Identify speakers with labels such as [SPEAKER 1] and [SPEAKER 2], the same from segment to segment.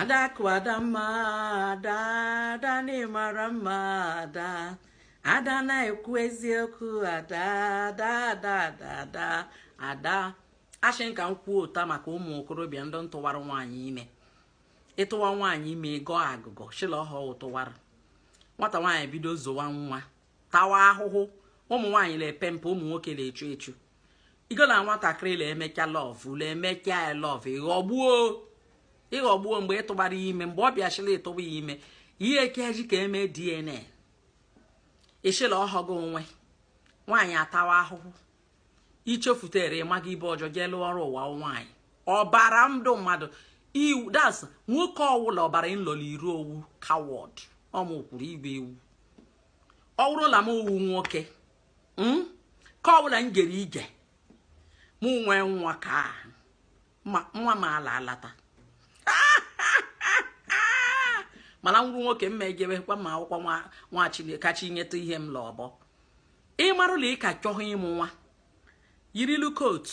[SPEAKER 1] adakụ adamma ada ada na ị mara mma ada ada na-ekwu eziokwu ada ada ada ada ada ada ashị m ka m kwuo taa maka ụmụ okorobịa ndị ntụwara nwaanyị ime ịtụwa nwaanyị ime ị gọọ agụgọ shị la ọhụụ tụwara nwata nwaanyị bido zowa nwa tawa ahụhụ ụmụ nwaanyị na-epe mpe ụmụ nwoke na-echu echu igo na nwatakịrị na-emecha love na-emecha ya love ị ghọgbuo ị ghọgbuo mgbe ị tụbara ya ime mgbe ọ bịa shị la ị tụba ya ime ihe ekeji ka e mee DNA ị shị la ọhọ gị nwe nwaanyị atawa ahụhụ i chefutere ịmaga ibe ọjọọ jee lụọ ọrụ ụwa nwaanyị ọbara ndụ mmadụ iwu das nwoke ọwụla ọbara nlọli iru ọ wụ coward ọ mụ kwuru igwe ewu ọ wụrụ la m wụ nwoke hmm? ka ọ bụla m gere ije m nwee nwa ka nwa m ala alata mana m wụrụ nwoke mma ejebekwa ma akwụkwọ nwa chineke kacha inyeta ihe m la ọbọ ị marụ la ị ka chọghị ịmụ nwa yirilu coat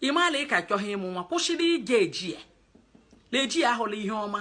[SPEAKER 1] ị ma la ị ka chọghị ịmụ nwa kwụsịrị ije eji ya na-eji ya ahụla ihe ọma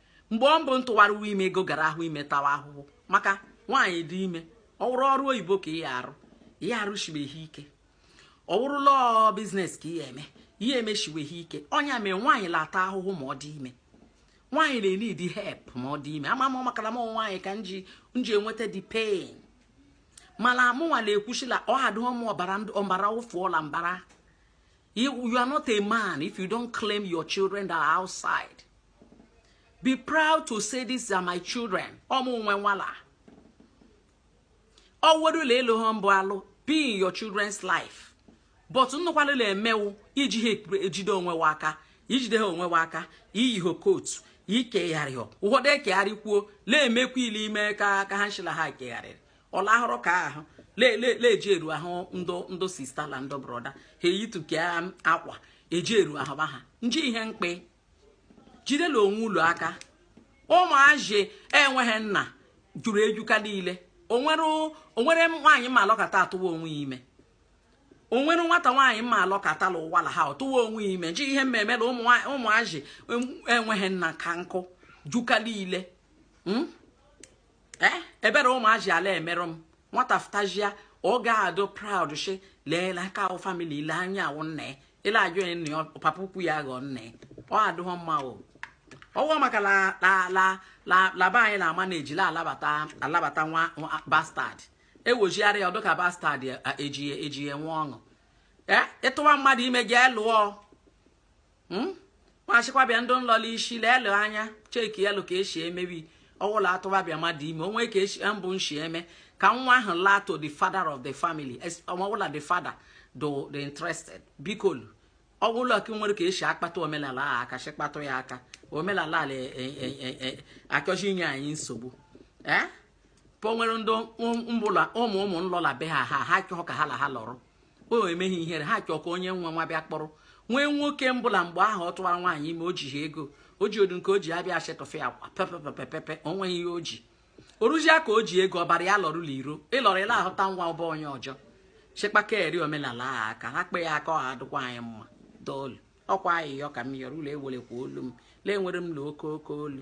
[SPEAKER 1] mgbe ọ mbụ ntụwara uwe ime ego gara ahụ ime tawa ahụhụ maka nwaanyị dị ime ọ wụrụ ọrụ oyibo ka ihe arụ ihe arụshibeghị ike ọ wụrụ la ọ business ka ihe eme ihe emeshiweghị ike ọ ya mere nwaanyị la-ata ahụhụ ma ọ dị ime nwaanyị na-enidi help ma ọ dị ime ama m makara m nwaanyị ka nji nji enweta the pain mana mụnwa na-ekwu shị la ọ adịghị mma ọbara ọbara ụ fụọ la mbara You, you are not a man if you don't claim your children that are outside. Be proud to say these are my children. Ọ mụ nwe nwa la. Ọ wụrụ la elu ha mbụ alụ be in your children's life. But nnụkwalụla emewu iji ha ejide onwe wa aka ijide ha onwe wa aka iyi ha coat ikegharị ụfọdụ ekegharị kwuo na-emekwa ile ime ka ka ha shị la ha kegharịrị ọlahụrụ ka ahụ le-eji eru ahụ ndụ ndụ sister la ndụ brother ha eyituke akwa eji eru ahụ ba ha nji ihe mkpa jidela onwe ulu aka ụmụazị enweghị nna juru eju ka niile o nwere nwaanyị ma alọkata atụwa onwe ya ime o nwere nwata nwaanyị ma alọkata la ụwa la ha ọ tụwa onwe ya ime nji ihe meme la ụmụazị enweghị nna ka nkụ ju ka niile hmm? ee eh, ebere ụmụazị a la-emerụ m nwata fụtazịa ọ ga-adụ proud shị leela ka wụ family ile onye wụ nna ya ile ajụ onye nna ya papa ukwu ya ghọọ nna ya ọ adụghọ mma o ọ wụ maka la ba anyị na-ama na ejila alabata alabata nwa bastard ewojigharị ya ọ dụ ka bastard ejighị ejighị nwa ọṅụ ee eh, ị tụwa mmadụ ime gị lụọ hmm? m ashịkwa bịa ndị nlọ la isi lelụ anya cheki elu ka esi emebi ọwụla a tụba bịa mmadụ ime o nwee ka e si mbụ nshi eme ka nwa ahụ laa to the father of the family ọwụla the father dụ interested bikolu ọwụla ka nwere ka esi akpata omenala ahụ aka si kpatụ ya aka omenala a la e, e, e, achọzi inye anyị nsogbu ee eh? o nwere ndị ụmụ ụmụ nlọ la be ha ha ha chọọ ka ha la ha lụrụ o meghị ihere ha chọọ ka onye nwe nwa bịa kpọrọ nwee nwoke mbụ la mgbe ahụ ọ tụwara nwaanyị ime o jiha ego o ji odu nke o ji abịa ashetọfe akwa pepepepepe o nweghị ihe o ji o ruzia ka o ji ego ọbara ya lọrọ la iro ị lọrọ ị la-ahụta nwa bụ onye ọjọọ chekpaka eri omenala a aka ha kpe ya aka ọha adịkwa anyị mma dolu ọ kwa ayịyọ ka m yọrọ ulu ewelekwa olu m la enwere m na oke oke olu